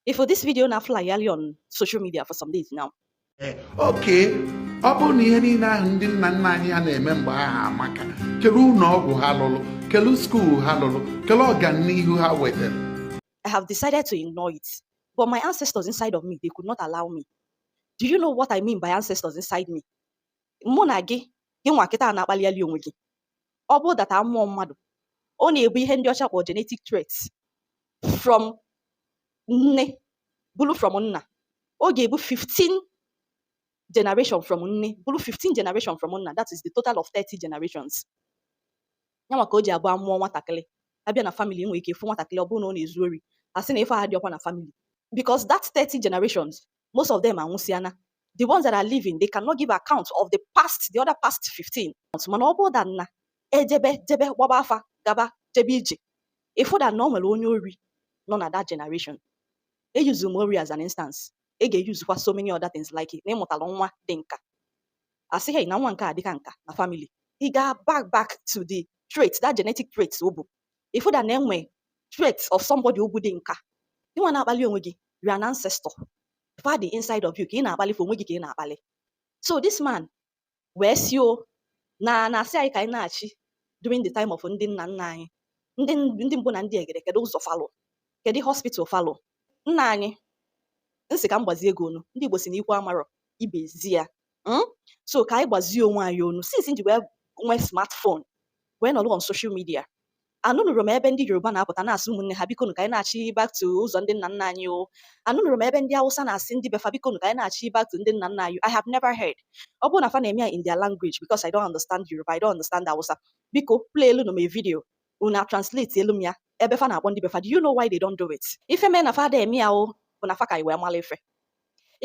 Ị fụ this video na-flyali on social media for some days now. Eh, okay, ọ bụrụ na ihe niile ahụ ndị nna nna anyị ha na-eme mgbe ahụ amaka kele ụlọ ọgwụ ha lụrụ kele skuul ha lụrụ kele ọganihu ha wetara I have decided to ignore it, but my ancestors inside of me, they could not allow me. Do you know what I mean by ancestors inside me? mụ na gị gị nwa kịta na-akpaliali onwe gị ọ bụrụ that amụọ mmadụ ọ na-ebu ihe ndị ọcha kpọ genetic traits from nne bulu from nna ọ ga-ebu 15 generation from nne bulu 15 generation from nna that is the total of 30 generations nyanwa ka o ji abụ amụọ nwatakịrị abịa na family nwere ike ịfụ nwatakịrị ọ bụrụ na ọ na-ezu ori asị na ife ahụ adịrọkwa na family because that 30 generations most of them anwụsịana the ones that are living they cannot give account of the past the other past 15 mana ọ bụrụ that na ejebe jebe gbaba afa gaba jebe ije ịfụ that na o nwere onye ori nọ na that generation eyuzu m ori as an instance e ga-eyuzukwa so many other things like na ịmụtara nwa dị nka asị hey na nwa nke a dịka nka na family ị ga back back to the trait that genetic trait o bu ịfụ that na enwe trait of somebody o bu dị nka ịnwa na-akpali onwe gị you are an ancestor fa dị inside of you ka ị na-akpali for onwe gị ka ị na-akpali so this man wee sị ọ na-asị anyị ka anyị nachi during the time of ndị nna nna anyị ndị mbụ na ndị egede kedu ụzọ fa lụ kedu hospital fa lụ nna anyị nsị ka m gbazie gị ọnụ ndị Igbo sị na ikwu amarọ ibe ezi ya hmm? so ka anyị gbazie onwe anyị ọnụ since m ji wee nwee smartphone wee nọrọ on social media anụnụrọ m ebe ndị yoruba na-apụta na-asị ụmụnne ha bikonu ka anyị nachi back to ụzọ ndị nna nna anyị o anụnụrọ m ebe ndị awụsa na-asị ndị befa bikonu ka anyị nachi back to ndị nna nna anyị i have never heard ọ bụrụ na fa na-eme ya in their language because i don't understand yoruba i don't understand awụsa biko play elu nụ m video unu translate elu m ya ebe fa na-akpọ ndị befa do you know why they don't do it ife mee na fa ada eme ya ọ bụ na fa ka anyị wee mara ife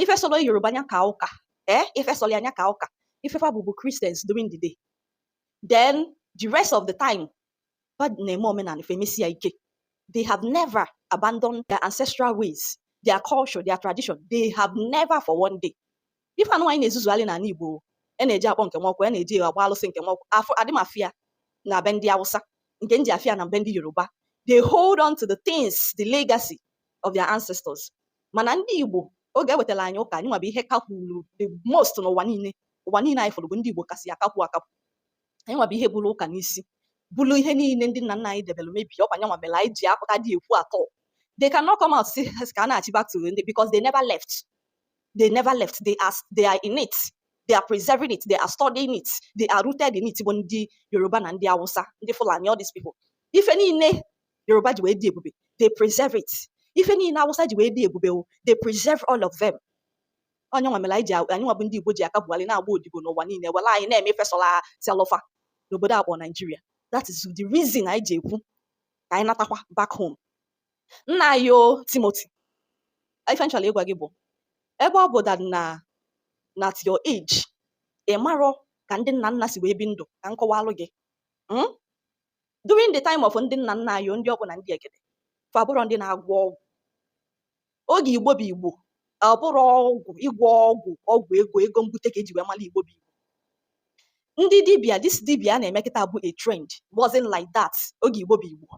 ife sọlọ yoruba nya kaa ụka ee eh? ife sọlọ nya kaa ụka ife fa bụ bụ christians during the day then the rest of the time fa na-eme omenala ife mesie ike they have never abandoned their ancestral ways their culture their tradition they have never for one day ife anụ anyị na-ezuzugharị n'ala igbo a na-eje akpọ nke nwa ọkụ a na-eje agba alụsị nke nwa ọkụ afụ adị m afụ ya na be ndị awụsa nke m ji afụ ya na be ndị yoruba they hold on to the things the legacy of their ancestors mana ndị Igbo oge ewetara anyị ụka anyịnwa bụ ihe kakwuru the most n'ụwa niile ụwa niile anyị fụrụ bụ ndị Igbo kasị akakwu akakwu anyịnwa bụ ihe buru ụka n'isi buru ihe niile ndị nna nna anyị debere mebi ọkwa nyanwa mere anyị ji apụta dị ekwu atọ they cannot come out sị ka a nachi back to ndị because they never left they never left they are, they are in it they are preserving it they are studying it they are rooted in it bụ ndị Yoruba na ndị Hausa ndị Fulani all these people ife niile Yoruba ji wee dị ebube they preserve it ife niile Awụsa ji wee dị ebube o they preserve all of them ọ nyanwa mere anyị ji anyị nwa bụ ndị Igbo ji aka Buhari na-agba odibo n'ụwa niile were anyị na-eme ife sọlụ sọlụ fa n'obodo akpọ Naijiria that is the reason anyị ji ekwu ka anyị natakwa back home nna anyị o Timothy ife m chọlụ ịgwa gị bụ ebe ọ bụ that na at your age ị marọ ka ndị nna nna si wee bi ndụ ka m kọwalụ gị hmm? during the time of ndị nna nna anyị ndị ọkpụ na ndị egede fa abụrọ ndị na-agwọ ọgwụ oge igbo bụ igbo ọ bụrọ ọgwụ ịgwọ ọgwụ ọgwụ ego ego mbute ka eji wee mara igbo bụ igbo ndị dibia this dibia a na-eme kịta bụ a trend wasn't like that oge igbo bụ igbo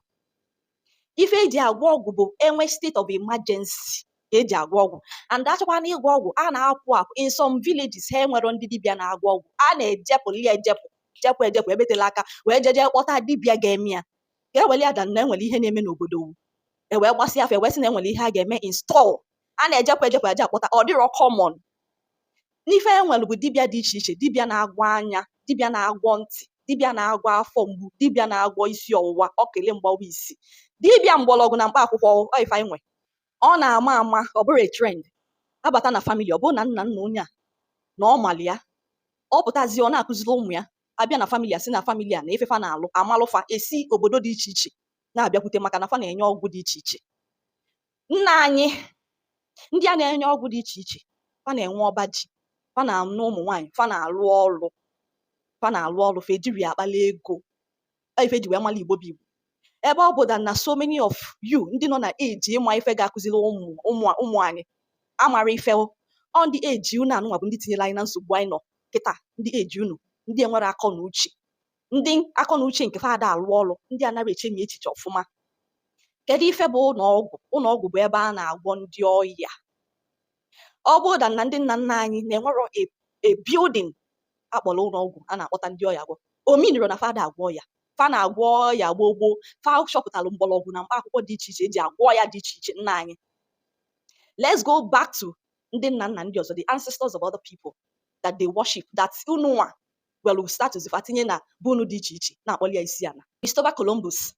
ife eji agwọ ọgwụ bụ enwe state of emergency ka eji agwọ ọgwụ and achọkwa na ịgwọ ọgwụ a na-apụ apụ in some villages ha enwerọ ndị dibịa na-agwọ ọgwụ a na-ejepụ ya ejepụ jepụ ejepụ ebe tela aka wee jeje kpọta dibịa ga-eme ya ka eweli ya that na enwere ihe na-eme n'obodo ewee gbasịa afa ewee sị na enwere ihe a ga-eme install a na-ejepụ ejepụ aja akpọta ọ dịrọ common n'ife e nwere bụ dibịa dị iche iche dibịa na-agwọ anya dibịa na-agwọ ntị dibịa na-agwọ afọ mgbu dibịa na-agwọ isi ọwụwa okili mgbawa isi dibịa mgbọrọgwụ na mkpa akwụkwọ ife anyị nwe ọ na-ama ama ọ bụrụ trend abata na family ọ bụrụ na nna nna onye a na ọ mali ya ọ pụtazi ọ na-akụziri ụmụ ya abịa na family a sị na family a na ife fa na-alụ a malụ fa esi obodo dị iche iche na-abịakwute maka na fa na-enye ọgwụ dị iche iche nna anyị ndị a na-enye ọgwụ dị iche iche fa na-enwe ọba ji fa na-anụ ụmụ nwaanyị fa na-alụ ọlụ fa na-alụ ọlụ fa ejirọ ya akpali ego ife e ji wee mara igbo bụ igbo ebe ọ bụ that na so many of you ndị nọ na age ịma ife ga-akụziri ụmụ ụmụ anyị amarọ ife ọ ndị age unu anụnwa bụ ndị tinyere anyị na nsogbu anyị nọ kịta ndị age unu ndị enwerọ akọ na uche ndị akọ na uche nke fa ada alụ ọrụ ndị anarọ echemi echiche ọfụma kedu ife bụ ụlọọgwụ ụlọọgwụ bụ ebe a na-agwọ ndị ọya ọ bụrụ that na ndị nna nna anyị na-enwerọ a building akpọrọ ụlọọgwụ a na-akpọta ndị ọya gwọ ọ meanirọ na fa ada agwọ ọya fa na-agwọ ọya gboo gboo fa chọpụtalụ mgbọrọgwụ na mkpa akwụkwọ dị iche iche eji agwọ ọya dị iche iche nna anyị let's go back to ndị nna nna ndị ọzọ the ancestors of other people that they worship that unụnwa welụ statues fa tinye na be unu dị iche iche na-akpọli ya isi ana Christopher Columbus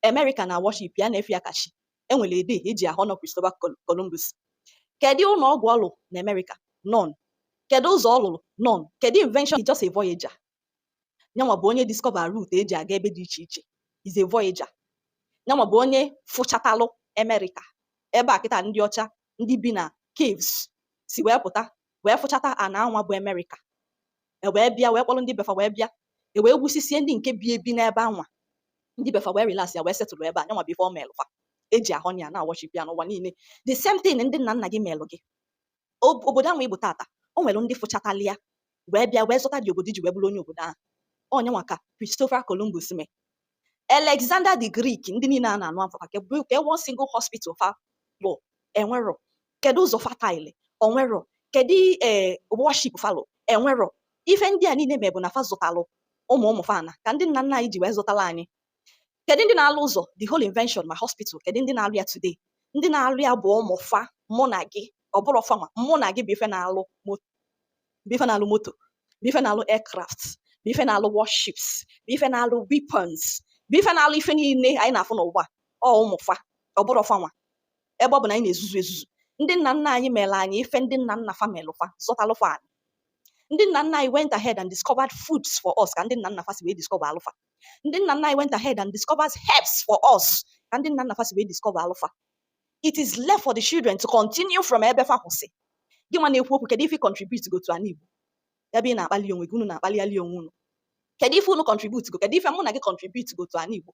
America na worship ya na-efe ya ka chi enwere a day eji ahonor Christopher Columbus kedu ụlọ ọgwụ ọ lụrụ na America none kedu ụzọ ọ lụrụ none kedu invention he's just a voyager nyanwa bụ onye discover route eji aga ebe dị iche iche he's a voyager nyanwa bụ onye fụchatalụ America ebe a kịta ndị ọcha ndị bi na caves si wee pụta wee fụchata ana anwa bụ America e wee bịa wee kpọrọ ndị befa wee bịa e wee gbusisie ndị nke bi ebi n'ebe anwa ndị befa wee relax ya wee setụrụ ebe a nyanwa bụ ife ọ melụ fa e ji ahụ ya na-aworship ya n'ụwa niile the same thing ndị nna nna gị melụ gị Ob- obodo anwa ị bụ tata o nwere ndị fụchatalụ ya wee bịa wee zọta the obodo i ji wee bụrụ onye obodo ahụ ọ nyanwa ka Christopher Columbus mee Alexander the Greek ndị niile a na-anụ afa ka bụ ka one single hospital fa lụ enwero kedu ụzọ fa tile onwero kedu ee eh, warship fa lụ enwero ife ndị a niile me bụ na fa zọtalụ ụmụ ụmụ fa ana ka ndị nna nna anyị ji wee zọtara anyị kedu ndị na-alụ ụzọ the whole invention ma hospital kedu ndị na-alụ ya today ndị na-alụ ya bụ ụmụ fa mụ na gị ọ bụrọ fanwa mụ na gị bụ ife na-alụ bụ ife na-alụ moto bụ ife na-alụ aircraft bụ ife na-alụ warships bụ ife na-alụ weapons bụ ife na-alụ ife niile anyị na-afụ n'ụwa ọ ụmụ fa ọ bụrọ fanwa ebe ọ bụ na anyị na-ezuzu ezuzu ndị nna nna anyị mere anyị ife ndị nna nna fa melụ fa zọtalụ fa anyị ndị nna nna anyị went ahead and discovered foods for us ka ndị nna nna fa si wee discoveralụ fa ndị nna nna anyị went ahead and discovered herbs for us ka ndị nna nna fa si wee discoveralụ fa it is left for the children to continue from ebe fa kwụsị gị nwa na-ekwu okwu kedu ife ị contribute go to ana Igbo ebe ị na-akpali onwe gị unu na-akpali onwe unu kedu ife unu contribute go kedu ife mụ na gị contribute go to ana Igbo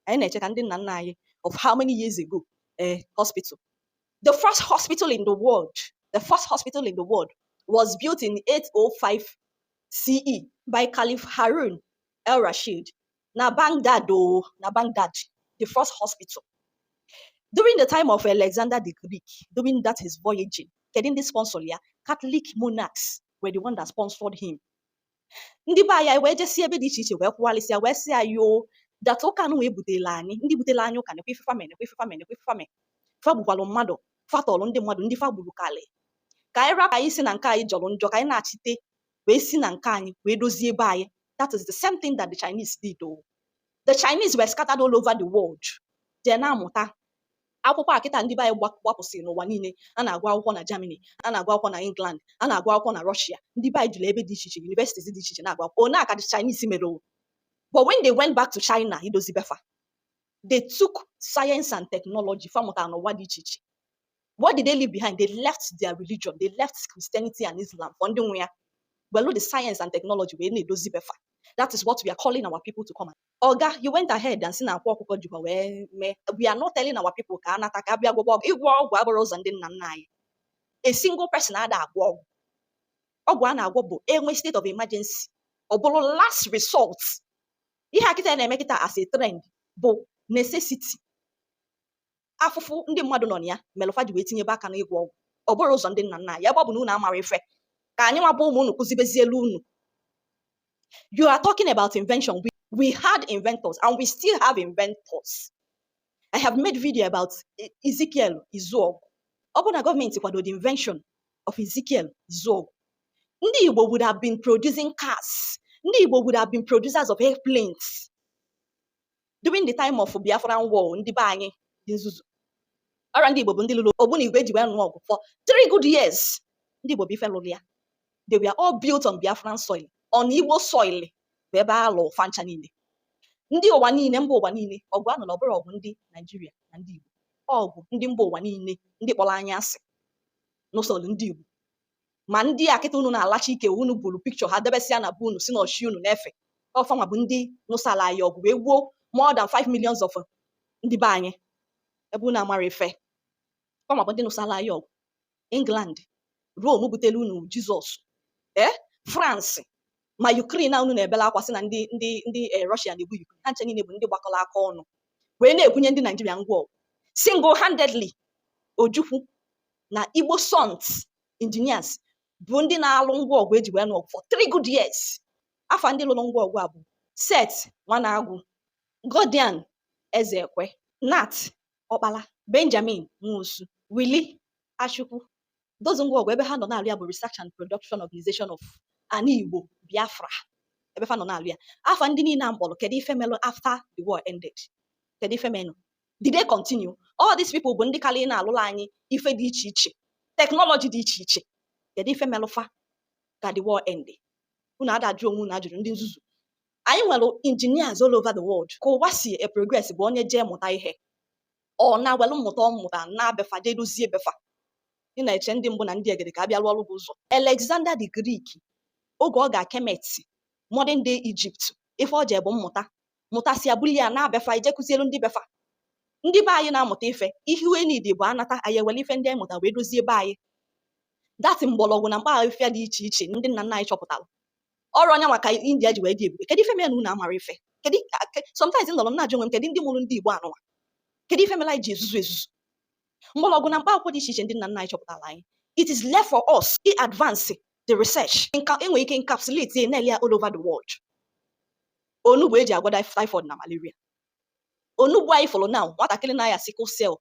anyị na-eche ka ndị nna nna anyị of how many years ago eh, hospital the first hospital in the world the first hospital in the world was built in 805 CE by Caliph Harun al-Rashid na Baghdad o oh, na Baghdad the first hospital during the time of Alexander the Greek during that his voyaging kedu ndị sponsor ya Catholic monarchs were the one that sponsored him ndị be anyị wee jesi ebe dị iche iche wee kwụghalịsịa wee sị ya yo dat ụka nụ wee butela anyị ndị butela anyị ụka nekwa ife fa mee nekwa ife fa mee nekwa ife fa mee fa gbukwalụ mmadụ fa tọlụ ndị mmadụ ndị fa gburu kalị ka anyị rapụ anyị sị na nke anyị jọrọ njọ ka anyị nachite wee si na nke anyị wee dozie ebe anyị that is the same thing that the Chinese did o oh. the Chinese were scattered all over the world jee na-amụta akwụkwọ a kịta ndị be anyị gbapụsịrị n'ụwa niile a na-agụ akwụkwọ na Germany a na-agụ akwụkwọ na England a na-agụ akwụkwọ na Russia ndị be anyị juru ebe dị iche iche universities dị iche iche na-agụ akwụkwọ ọ nya ka Chinese mere o oh. but when they went back to China idozi befa they took science and technology fa mụtara n'ụwa dị iche iche What did they leave behind? They left their religion, they left Christianity and Islam for ndị nwe ya. Welu the science and technology wee na-edozi befa. That is what we are calling our people to come. Oga, you went ahead and sị na Akwa Ọkụkọ jikwa wee mee. We are not telling our people ka a nata ka a bịa gwọwa ọgwụ. Ịgwọ ọgwụ abụrọ ụzọ ndị nna nna anyị. A single person ada agwọ ọgwụ. Ọgwụ a na-agwọ bụ e nwee state of emergency. Ọ bụrụ last resort. Ihe okite a na-eme kịta as a trend bụ necessity. afụfụ ndị mmadụ nọ na ya melụ fa ji wee tinyebe aka n'ịgwọ ọgwụ ọ bụrụ ụzọ ndị nna nna anyị ebe ọ bụ na unu amara ife ka anyị nwa bụ ụmụ unu kụzibezielu unu you are talking about invention we, we had inventors and we still have inventors i have made video about e, ezekiel izuọgụ ọ bụ na gọọmenti kwado the invention of ezekiel izuọgụ ndị igbo would have been producing cars ndị igbo would have been producers of airplanes during the time of Biafran war ndị be anyị dị nzuzu ọra ndị Igbo bụ ndị lụrụ ogbunigwe e ji wee nụ ọgụ for three good years ndị Igbo bụ ife lụrụ ya they were all built on Biafran soil on Igbo soil bụ ebe a lụ fa ncha niile ndị ụwa niile mba ụwa niile ọgụ a nụrụ ọ bụrọ ọgụ ndị Naijiria na ndị Igbo ọgụ ndị mba ụwa niile ndị kpọrọ anyị asị nụsolu ndị Igbo ma ndị a kịta unu na-alacha ike unu buru picture ha debesịa na be unu sị na ọ chi unu na-efe ọ fa nwa bụ ndị nụsala anyị ọgụ wee gbuo more than 5 millions of ndị be anyị ebe unu amara ife ọ fa nwa bụ ndị nụsala anyị ọgụ england rome butelu unu jizọs ee france ma Ukraine a unu na-ebela akwa sị na ndị ndị ndị eh, Russia na-egbu Ukraine ha ncha niile bụ ndị gbakọrọ aka ọnụ wee na-ebunye ndị Naijiria ngwa ọgụ single handedly Ojukwu na Igbo Sons engineers bụ ndị na-alụ ngwa ọgụ e ji wee nụ ọgụ for three good years afa ndị lụrụ ngwa ọgụ a bụ Seth Nwanagwu Gordian Ezekwe Nat Ọkpala Benjamin Nwosu Willie Achukwu those ngwa ọgụ ebe ha nọ na-alụ ya bụ Research and Production Organization of Ana Igbo Biafra ebe fa nọ na-alụ ya afa ndị niile a m kpọrọ kedu ife melụ after the war ended kedu ife menụ did they continue all these people bụ ndị kalị na-alụla anyị ife dị iche iche teknọlọji dị iche iche kedu ife melụ fa ka the war end unu ada ajụ onwe unu ajụjụ ndị nzuzu anyị nwere engineers all over the world ka ụwa si e progress bụ onye jee mụta ihe ọ na-ewelụ mmụta ọ mụta naa be fa jee dozie be fa ị na-eche ndị mbụ na ndị egede ka a bịa rụọrọ gị ụzọ Alexander the Greek oge ọ ga Kemet modern day Egypt ife o jee bụ mmụta mụtasịa buli ya naa be fa ije kụzielu ndị be fa ndị be anyị na-amụta ife ihe we need bụ anata anyị ewere ife ndị anyị mụta wee dozie be anyị that mgbọrọgwụ na mkpa afịfịa dị iche iche ndị nna nna anyị chọpụtara ọrụ ọ nya maka india ji wee dị ebube kedu ife mere na unu amara ife kedu sometimes nọrọ m na-ajụ onwe m kedu ndị mụrụ ndị igbo anụwa kedu ife mere anyị ji ezuzu ezuzu mgbọrọgwụ na mkpa akwụkwọ dị iche iche ndị nna nna anyị chọpụtara anyị it is left for us i advance the research e nwere ike encapsulate na-ele ya all over the world onugbu e ji agwọ typhoid na malaria onugbu anyị fụrụ na nwatakịrị na-aya sickle cell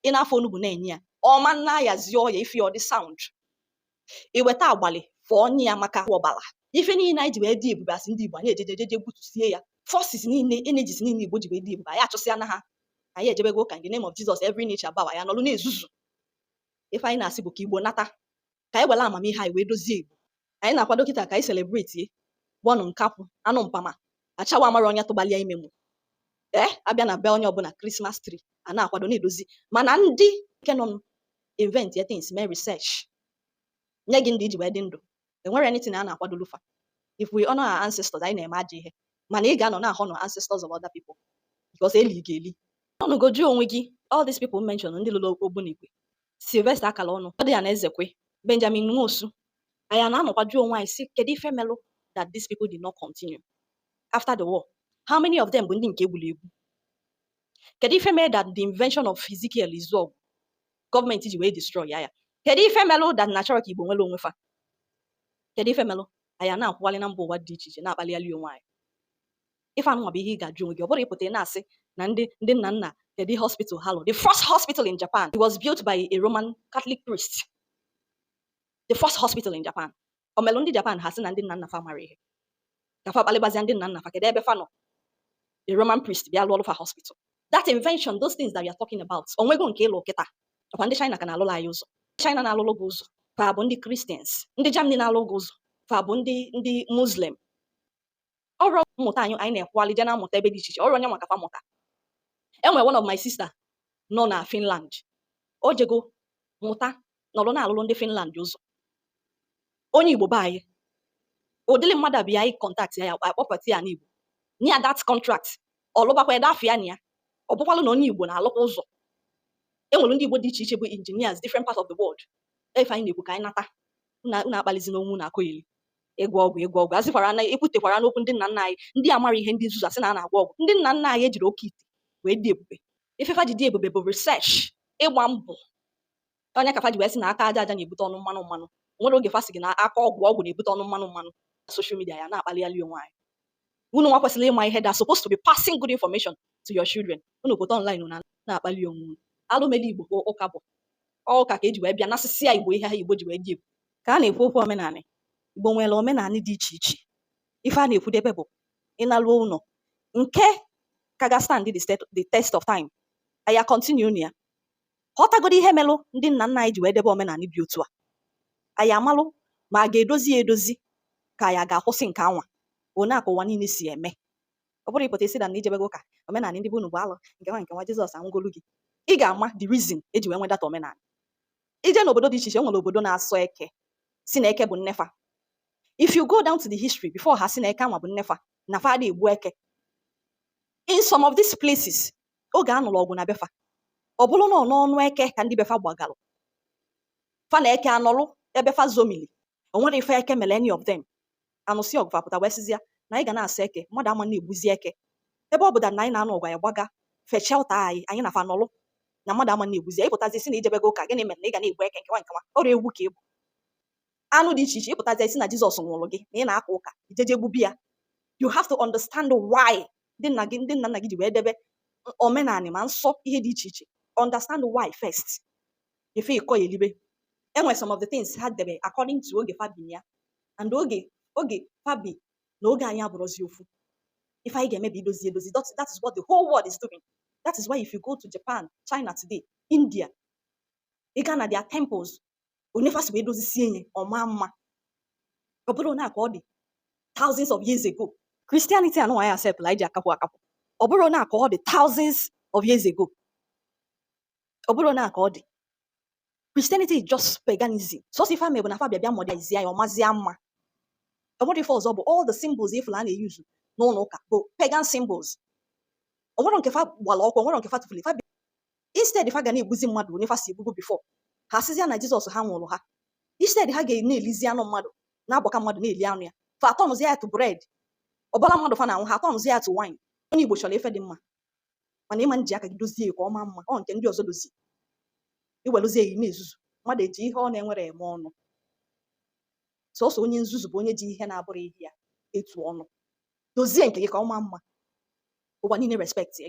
ị na-afọ onugbu na-enye ya ọ ma na-ayazi ọya ị fụ ọ dị sound i weta agbalị fọọ nye ya maka ọbara ife niile anyị ji wee dị ebube as ndị Igbo anyị ejejejeje gbutusie ya forces niile energies niile Igbo ji wee dị ebube anyị achụsịana ha anyị ejebego ụka in the name of Jesus every knee shall bow anyị anọlụ na-ezuzu ife anyị na-asị bụ ka Igbo nata ka anyị were amamihe anyị wee dozie Igbo anyị na-akwado kịta ka anyị celebrate bọnụ nkakwụ anụ mpama ashawo amarọ onye tụbalị ya ime mụ ee eh, a bịa na be onye ọbụla Christmas tree a na-akwado na-edozi mana ndị nke nọ invent ya things mee research nye gị ndụ i ji wee dị ndụ enwerọ anything a na-akwadolu fa if we honor our ancestors anyị na-eme ajọ ihe mana ị ga-anọ na-honor ancestors of other people because eli gị eli ị nọgo jụọ onwe gị all these people mention ndị lụrụ Ogbunigwe Sylvester Akalonu Gordian Ezekwe Benjamin Nwosu anyị na-anọkwa jụọ onwe anyị sị kedu ife melụ that these people did not continue after the war how many of them bụ ndị nke egburu egbu kedu ife mere that the invention of Ezekiel Izuogu gọọmenti ji wee destroy ya ya kedu ife melụ that na achọrọ ka Igbo nwere onwe fa kedu ife melụ anyị na-akwụwalị na mba ụwa dị iche iche na-akpalịali onwe anyị ife anụnwa bụ ihe ị ga-ajụ onwe gị ọ bụrọ ị pụta ị na-asị na ndị ndị nna nna kedu ihe hospital ha lụ the first hospital in Japan it was built by a Roman Catholic priest the first hospital in Japan o melụ ndị Japan ha sị na ndị nna nna fa amarọ ihe ka fa kpalịbazia ndị nna nna fa kedu ebe fa nọ a Roman priest bịa lụọ fa hospital that invention those things that you are talking about o nwego nke ị lụ kịta ọ kwa ndị China ka na-alụlụ anyị ụzọ China na-alụlụ gị ụzọ fa bụ ndị Christians ndị Germany na-alụ gị ụzọ fa bụ ndị ndị Muslim ọrụ mmụta anyị anyị na-ekwuali je na-amụta ebe dị iche iche ọrụ onye maka mụta enwere one of my sister nọ na Finland o jego mụta nọrọ na-alụrụ ndị Finland ụzọ onye Igbo be anyị ụdịrị mmadụ a bịa anyị contact ya akpọpụta ya n'Igbo nye ya that contract ọ lụbakwa ede afụ ya n'anya ọ bụkwalụ na onye Igbo na-alụkwa ụzọ enwere ndị Igbo dị iche iche bụ engineers different parts of the world ife anyị na-ekwu ka anyị nata unu akpalizina onwe unu akọgheli ịgwọ ọgwụ ịgwọ ọgwụ a sịkwara na ekwutekwara n'okwu ndị nna nna anyị ndị amarọ ihe ndị nzuzu asị na a na-agwọ ọgwụ ndị nna nna anyị ejirọ oke ite wee dị ebube ife fa ji dị ebube bụ research ịgba mbọ ọ nya ka fa ji wee sị na aka aja aja na-ebute ọnụ mmanụ mmanụ nwere oge fa sị gị na aka ọgwụ ọgwụ na-ebute ọnụ mmanụ mmanụ na social media anyị na-akpalịali onwe anyị unu nwa kwesịrị ịma ihe that supposed to be passing good information to your children unu pụta online na na-akpali onwe unu alụ meli Igbo ka ụka bụ ọ ụka ka eji wee bịa nasịsịa Igbo ihe a Igbo ji wee dị ebube ka a na-ekwu okwu omenanị Igbo nwere omenanị dị iche iche ife a na-ekwudebe bụ ị naruo ụlọ nke ka ga stand the state the test of time anyị continue na ya ghọtagodo ihe melụ ndị nna nna anyị ji wee debe omenanị dị otu a anyị amalụ ma a ga-edozi ya edozi ka anyị ga-akwụsị nke anwa one a ka ụwa niile si eme ọ bụrọ ị pụta ị sị na na i jebego ụka omenala ndị be unu bụ alụ nke anwa nke anwa Jizọs anwụgolụ gị ị ga-ama the reason e ji wee nwedata omenala i je n'obodo dị iche iche nwere obodo na-asọ eke sị na eke bụ nne fa if you go down to the history before ha sị na eke anwa bụ nne fa na fa adị egbu eke in some of these places oge a nụrụ ọgụ na be fa ọ bụrụ na ọ n'ọnụ eke ka ndị be fa gbagalụ fa na eke anọlụ ebe fa zomili o nwere ife eke mere any of them a nụsịa ọgụ fa pụta wee sịzịa na anyị ga na-asọ eke mmadụ ama na-egbuzi eke ebe ọ bụda na anyị na-anụ ọgụ anyị gbaga fechaa ụta anyị anyị na fa nọlụ na mmadụ ama na-egbuzi ya ị pụtazi sị na i jebego ụka gịnị mere na ị ga na-egbu eke nke anwa nke anwa ọrịa egwu ka ịbụ anụ dị iche iche ị pụtazi sị na Jizọs nwụrụ gị na ị na-aka ụka i jeje gbubie ya you have to understand why ndị nna gị ndị nna nna gị ji wee debe omenala ma nsọ ihe dị iche iche understand why first before ị kọ ya elibe enwe some of the things ha debe according to oge fa bi ya and oge oge fa bi na oge anyị abụrọzi ofu ife anyị ga-eme bụ idozi edozi that, that is what the whole world is doing that is why if you go to japan china today india ị gaa na their temples onye fa si wee dozisie ihe ọ maa mma ọ bụrọ na ka ọ dị thousands of years ago christianity anụ anyị acceptlụ anyị ji akapụ akapụ ọ bụrọ na ka ọ dị thousands of years ago ọ bụrọ na ka ọ dị Christianity is just paganism sọsọ ife fa me bụ na fa bịa bịa modernize ya ọ mazie mma ọ bụrọ ife ọzọ bụ all the symbols ị fụlụ a na-use n'ụlọ ụka bụ pagan symbols ọ nwere nke fa gbara ọkụ ọ nwere nke fa tụfuru fa bịa instead fa ga na-egbuzi mmadụ onye fa si egbubu before ha asịzịa na Jizọs anwụrụ ha instead ha ga na-elizi anụ mmadụ na-agbaka mmadụ na-eli anụ ya fa atọnụzi ya to bread ọbara mmadụ fa na-aṅụ ha atọnụzi ya to wine onye Igbo chọrọ ife dị mma mana ị ma nji aka gị dozie ka ọ maa mma ọ nke ndị ọzọ dozie i weluzie ya na-ezuzu mmadụ eji ihe ọ na-enwerọ eme ọnụ sọsọ onye nzuzu bụ onye ji ihe na-abụrọ ihe ya etu ọnụ dozie nke gị ka ọ maa mma ụwa niile respect gị